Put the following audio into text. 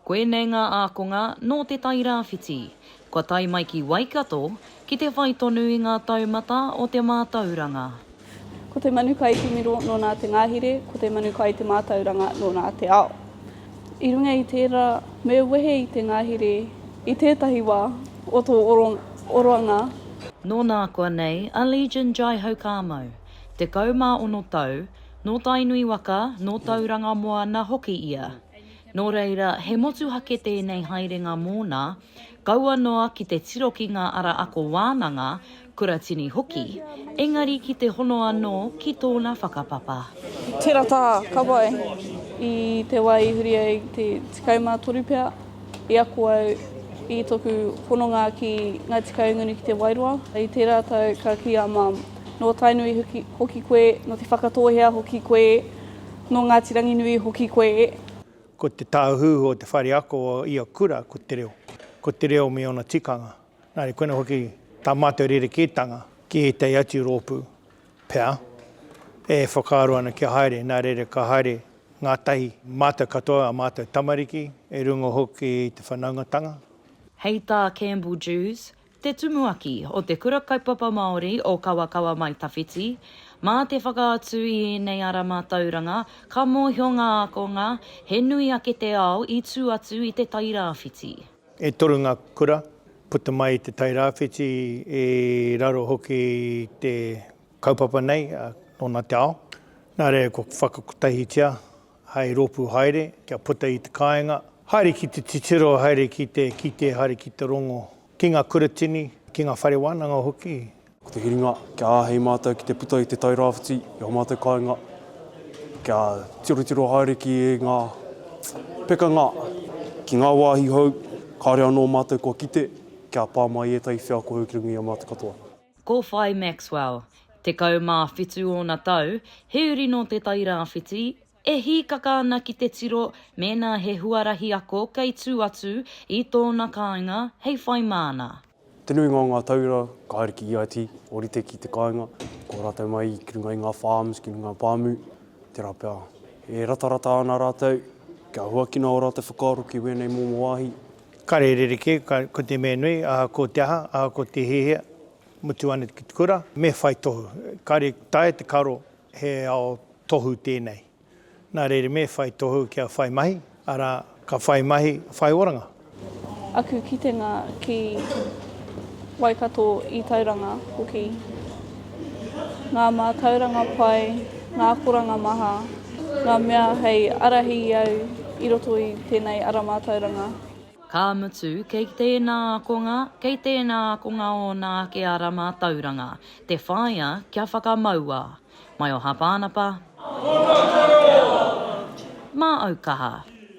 Koinei ngā ākonga nō Te Tai Rāwhiti. Kua tae mai ki Waikato ki te whai tonu i ngā taumata o te mātauranga. Ko te manu kai te miro nō nā te ngāhire, ko te manu kai te mātauranga nō nā te ao. I runga i tērā, me wehe i te ngāhire i tētahi wā o tō oroanga. Nō nākoa nei a Legion Jaihaukāmau, 16 tau, Nō Tainui waka, nō Tauranga moana hoki ia. Nō reira, he motuhake tēnei haerenga mōna, kaua noa ki te tiro ki ngā ara ako wānanga, kuratini hoki, engari ki te hono anō ki tōna whakapapa. Tērā taha, ka pai. I te wā i huri ai te 13 pea, i ako au i tōku hononga ki Ngāti Kahungunu ki Te Wairoa. I tērā tau ka kī a Mum, Nō Tainui hoki koe, nō Te Whakatōhea hoki koe, nō Ngāti Ranginui hoki koe. Ko te tāhuhu o te whare ako o ia kura ko te reo, ko te reo me ōna tikanga. Nā reira koinā hoki tā mātou rerekētanga ki ētahi atu rōpū pea e whakaaro ana kia haere, nā reira ka haere ngātahi mātou katoa, ā mātou tamariki, e runga hoki i te whanaungatanga. Hei tā Campbell Dewes, Te Tumuaki o Te Kura Kaupapa Māori o Kawakawa Mai Tawhiti, Mā te whakaatu i ēnei ara mātauranga, ka mōhio ngā ākonga he nui ake te ao i tū atu i Te Tai Rāwhiti. E toru ngā kura puta mai i Te Tai Rāwhiti, i raro hoki i te kaupapa nei, nōna te ao. Nā reira kua whakakotahitia hai rōpū haere kia puta i te kāinga, haere ki te titiro, haere ki te kite, haere ki te rongo, ki ngā kuratini, ki ngā whare wānanga hoki. Ko te hiringa, kia āhei mātou ki te puta i te Tairāwhiti i ō mātou kāinga, kia tirotiro haere ki ngā pekanga, ki ngā wāhi hou, kāore anō mātou kua kite, kia pā mai ētahi wheako hou ki runga i a mātou katoa. Ko Whai Maxwell, 17 ōna tau, he uri nō Te Tai Rāwhiti, e hīkaka ana ki te tiro mēnā he huarahi ako kei tū atu i tōna kāinga hei whai māna. Te nuinga o ngā tauira ka haere ki EIT, ōrite ki te kāinga, ko rātou mai ki runga i ngā farms, ki ngā pāmu, tērā pea. E ratarata ana rātou, kia huakina ō rātou whakaaro ki wēnei momo wāhi, Kare rerekē, ko te mea nui, ahakoa te aha, ahakoa te hiahia, mutu ana ki te kura, me whai tohu. Kare taea te karo he ao tohu tēnei. Nā reira me whai tohu kia whai mahi, arā, ka whai mahi, whai oranga. Aku kitenga ki Waikato i Tauranga hoki. ngā mātauranga pai, ngā akoranga maha, ngā mea hei ārahi i au i roto i tēnei ara mātauranga. Ka mutu, kei tēnā ākonga, kei tēnā ākonga ōna ake ara mātauranga, te whāia kia whakamaua. Mai o Hāpānapa. Mā au kaha.